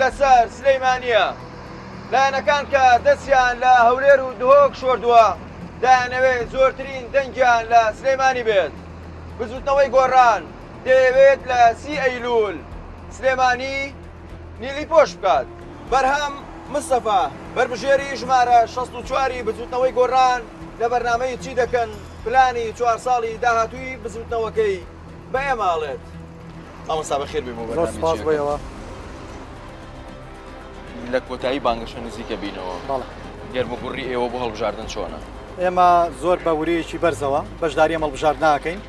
لەسەر سلیمانیە لایەنەکان کە دەستیان لە هەولێر و دهۆک شۆردووە دایانەوێ زۆرترین دەنگیان لە سلێمانی بێت بزوتنەوەی گۆڕان دەیەوێت لە سی ئەیلول سلێمانی نیلی پۆش بکات بەرهەم مستەفا بەربژێری ژمارە 64ی بزوتنەوەی گۆڕان لە بەرنامەی چی دەکەن پلانی چوار ساڵی داهاتووی بزوتنەوەکەی بە ئێمە ئەڵێت مامۆستا بەخێر بێ بۆ زۆر بەرنامەی سوپاس جیەکە بۆیەوە لە کۆتایی بانگەشە نزیکە بینەوە بەڵێ گەرموگوڕی ئێوە بۆ هەڵبژاردن چۆنە ئێمە زۆر بە ورەیەکی بەرزەوە بەشداری ئەم هەڵبژاردنە ناکەین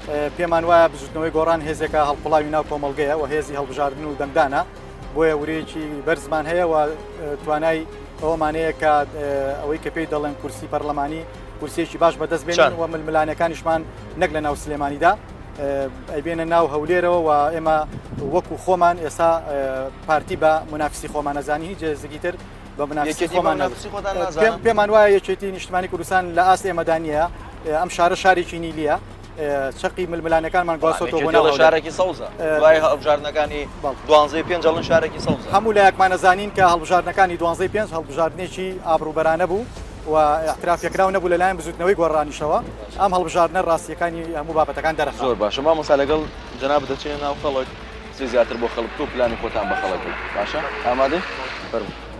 ئێ، پێمان وایە بزوتنەوەی گۆڕان هێزێکە هەڵقوڵاوی ناو کۆمەڵگەیە و هێزی هەڵبژاردن و دەنگدانە بۆیە ورەیەکی بەرزمان هەیە و ئێ، توانای ئەوەمانەیە کە ئێ، ئەوەی کە پێی دەڵێن کورسی پەرلەمانی کورسیەکی باش بەدەست بێنن و ململانەکانیشمان نەک لە ناو سلێمانیدا ئەیبێنە ناو هەولێرەوە و ئێمە وەکو خۆمان ئێستا پارتی بە منافسی خۆمانەزانی جێزگی تر بە منافسی خۆمان پێمان وایە یەکێتی نیشتمانی کوردستان لە ئاست ئێمەدانە ئەم شارە شارێکی نیلیە چەقی ململانەکانمان گواستۆتەوە بۆ ناو شارێکی سەوزە دوای هەڵبژاردنەکانی دوانزەی پێنج هەڵن شارێکی سەوز هەموو لایەکمانە زانین کە هەڵبژاردنەکانی دوانزەی پێنج هەڵبژاردنێکی ئابروبەرانە بوو و احترافێکراو نەبوو لەلایەن بزوتنەوەی گۆڕانیشەوە ئەم هەڵبژاردنە ڕاستیەکانی هەموو بابەتەکان دەرە زۆر باشە ما مەسا لەگەڵ جناب دەچێنە ناو خەڵک زیاتر بۆ خەڵک تۆ پلانی خۆتان بە خەڵک باشە ئامادە فەرمو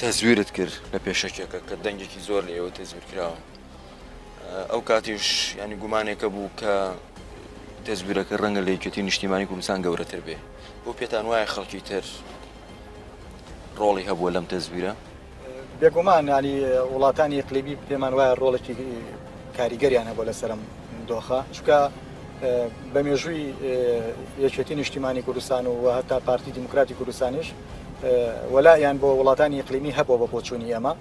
تەزویرت کرد لە پێشەکێکە کە دەنگێکی زۆر لە ئێوە تەزویر کراوە ئەو کاتیش ینی گومانێکە بوو کە تەزویرەکە ڕەنگە لە یەکێتی نیشتیمانی کوردستان گەورەتر بێ بۆ پێتان وایە خەڵکی تر ڕۆڵی هەبووە لەم تەزویرە بێگومان ینی وڵاتانی قلیبی پێمان وایە ڕۆڵێکی کاریگەریان هەبوو لە سەرم دۆخە چکە بە مێژووی یەکێتی نیشتیمانی کوردستان و هەتا پارتی دیموکراتی کوردستانیش وەلائیان بۆ وڵاتانی ئیقلیمی هەبووە بە بۆچوونی ئێمە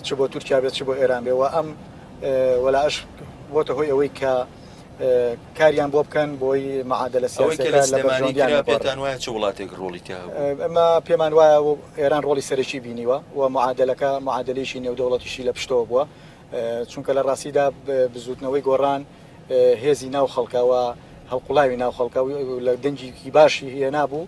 چ بۆ تورکیا بێت چ بۆ ئێران بێ و ئەم وەلاش بۆتە هۆی ئەوەی کە کاریان بۆ بکەن بۆی معادلە پێتان وایە چ وڵاتێک ڕۆڵی تیا ئەمە پێمان وایە و ئێران ڕۆڵی سەرەکی بینیوە و معادلەکە معادلەیەکی نێودەوڵەتیشی لە پشتەوە بووە چونکە لە ڕاستیدا بزوتنەوەی گۆڕان هێزی ناو خەڵکەوە هەڵقوڵاوی ناو خەڵکە لە دەنگیکی باشی هێنا بوو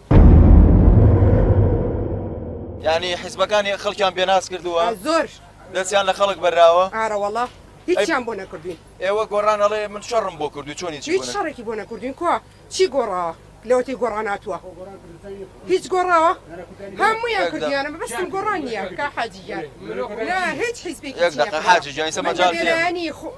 یانی حیزبەکانی خەڵکیان پێناس کردووە زۆر دەستیان لە خەڵک بەراوە ئارەوەڵا هیچیان بۆ نەکردوین ئێوە گۆڕان ئەڵێ من شەڕم بۆ کردو چۆنی هیچ شەڕێکی بۆ نەکردوین کوا چی گۆڕاوە لەوەتی گۆڕان هاتووە هیچ گۆڕاوە هەموویان کردیانە بەستم گۆڕان نییە کا حاجیان هیچ حیزبێکی حاجی جانی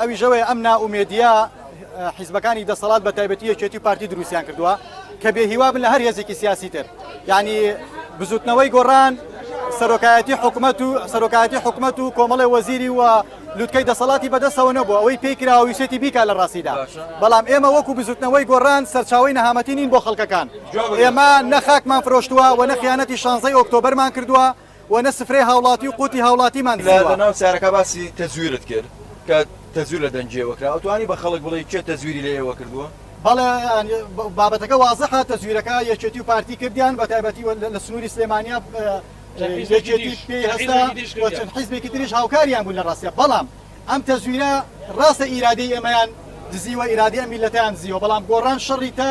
ئەویش ئەوەیە ئەم نائومێدییە حیزبەکانی دەسەڵات بە تایبەتی یەکێتی و پارتی دروستیان کردووە کە بێ هیوا بن لە هەر هێزێکی سیاسی تر یعنی بزوتنەوەی گۆڕان سەرۆکایەتی حکومت و سەرۆکایەتی حکومت و کۆمەڵی وەزیری و لوتکەی دەسەڵاتی بەدەستەوە نەبوو ئەوەی پێی کراویسێتی بیکا لە ڕاستیدا بەڵام ئێمە وەکو بزوتنەوەی گۆڕان سەرچاوی نەهامەتی نین بۆ خەڵکەکان ئێمە نەخاکمان فرۆشتووە و نەخیانەتی شانزەی ئۆکتۆبەرمان کردووە و نە سفرەی هاوڵاتی و قوتی هاوڵاتیمان دزیوە. لە ناو چارەکە باسی تەزویرت کرد کە تەزویر لە دەنگی ئێوە کرا ئەتوانی بە خەڵک بڵێی کێ تەزویری لە ئێوە کردووە؟ بەڵێ بابەتەکە وازحە تەزویرەکە یەکێتی و پارتی کردیان بە تایبەتی لە سنوری سلێمانیا یەکێتی پێی هەستا و چەند حیزبێکی تریش هاوکاریان بوو لە ڕاستە بەڵام ئەم تەزویرە ڕاستە ئیرادەی ئێمەیان دزیوە ئیرادەی ئەم میلەتەیان دزیوە بەڵام گۆڕان شەڕی تا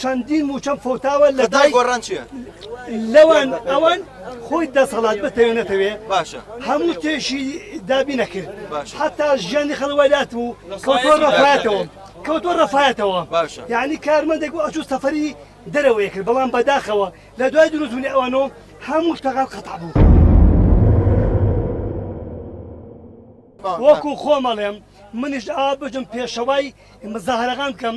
چەندین موچەم فەوتاوە لە دای گۆڕان چیە لەوان ئەوان خۆی دەسەڵات بتەوێ نەتەوێ باشە هەموو تێشی دابی نەکرد حتا ژیانی خەڵوەلات و کۆتۆ ڕەفاتەوە کەوتۆ ڕەفاتەوە باشە یعنی کارمەندێک ئەچ سەفری دەرەوەی کرد بەڵام بەداخەوە لە دوای دروستونی ئەوانەوە هەموو شتەکان قەتع بوو وەکو خۆمەڵێم منیش ئا بژم پێشەوای مزاهرەکان بکەم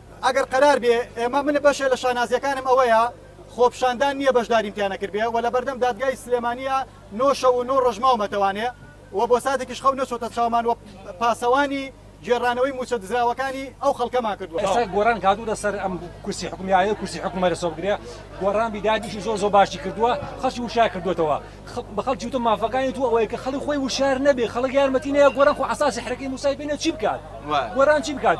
ئەگەر قەرار بێ ئێمە من بەشێ لە شانازیەکانم ئەوەیە خۆپشاندان نیە بەشداریم تیا نەکردبێ و لەبەردەم دادگای سلێمانیە نۆ شەو و نۆ ڕۆژ ماومەتەوانێ و بۆ ساتێکیش خەو نەچۆتە چاومان و پاسەوانی گێڕانەوەی موچە دزراوەکانی ئەو خەڵکەمان کردوە. ئێستا گۆران کادووتە سەر ئەم کورسی حکومی ئایا کورسی حکومە لەسەر بگرێ گۆران بیدادیشی زۆر زۆر باشی کردووە خەڵکی وشار کردوێتەوە بە خەڵکی وتە مافەکانی تو ئەوەیە کە خەڵک خۆی وشار نەبێ خەڵک یارمەتی نەیە گۆران خۆ عساسی حرەکەی موسای پێنە چی بکات گۆران چی بکات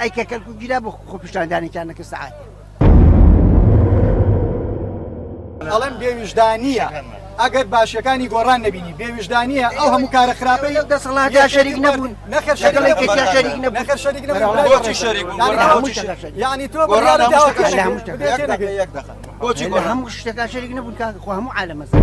ئەی کە کەلکو گیرا بۆ خۆپیشاندانێکیان نەکە سەعات ئەڵم بێویژدانە ئەگەر باشەکانی گۆڕان نبینی بێویژدانە ئەو هەموو کارە خراپی دەسەڵات یا شەریک نەبوون نەخەر شەریک نەخەر شەریک بۆچی شەریک یعنی تۆ بۆچی هەموو شتەکە شەریک نەبوون کاکە خۆ هەموو عالەمەزان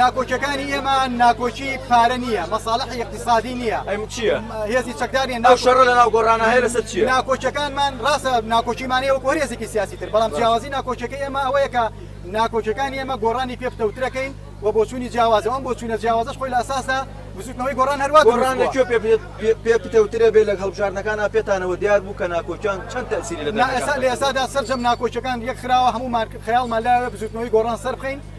ناکۆکیەکانی ئێمە ناکۆکی پارە نییە، مەساڵحی ئیقتیسادی نییە، هێزی چەکدار نییە، ئەو شەڕە لەناو گۆڕانە هەیە لەسەر چییە؟ ناکۆکیەکانمان ڕاستە ناکۆکیمان هەیە وەکو هەر هێزێکی سیاسی تر، بەڵام جیاوازی ناکۆکیەکەی ئێمە ئەوەیە کە ناکۆکیەکانی ئێمە گۆڕانی پێ پتەوترەکەین و بۆچوونی جیاوازە و ئەم بۆچوونە جیاوازەش خۆی لە ئەساسدا بزووتنەوەی گۆڕان هەر وا دروست بووە. گۆڕان لە کوێ پێ پتەوترە بێ لە هەڵبژاردنەکانا پێتانەوە دیار بوو کە ناکۆکیان چەند تەئسیری لە دەنگەکاندا هەیە؟ نا ئێستا لە ئێستادا سەرجەم ناکۆکیەکان یەک خراوە، هەموومان خەیاڵمان لایە بزووتنەوەی گۆڕان سەربخەین،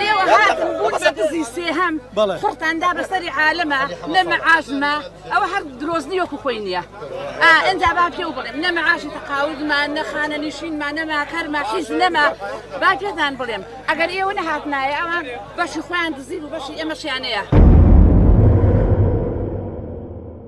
لێوە هاتم بوون بە دزی سێهەم خڕتاندا بەسەری عالەمە لە مەعاشمە ئەوە هەر درۆزنی وەکو خۆی نییە ئەجا با پێ و بڵێم نە مەعاشی تەقاودمان نەخانە نیشینمان نەما کەرما حیز نەما با پێتان بڵێم ئەگەر ئێوە نەهاتنایە ئەوان بەشی خۆیان دزی و بەشی ئێمەشیانەیە.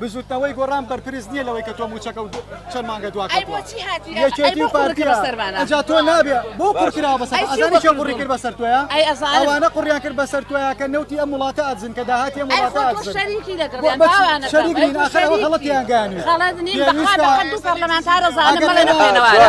بزوتنەوەی گۆڕان بەرپرس نیە لەوەی کە تۆ موچەکە و چەند مانگە دوا کەتوە یەکێتی و پارتی ئەجا تۆ نابێ بۆ قڕ کراوە بەسەر ئەزانی کێ قڕی کرد بەسەر تۆیە ئەوانە قڕیان کرد بەسەر تۆیە کە نەوتی ئەم وڵاتە ئەدزن کە داهاتی ئەم وڵاتە ئەدزن شەریکی لەگەڵیان باوانە شەریکین ئەخەر ئەوە غەڵەتیان گانی غەڵەت نیم بەخوا بەقەد دوو پەرلەمانتارە زانم بەڵێ نەخوێنەوارە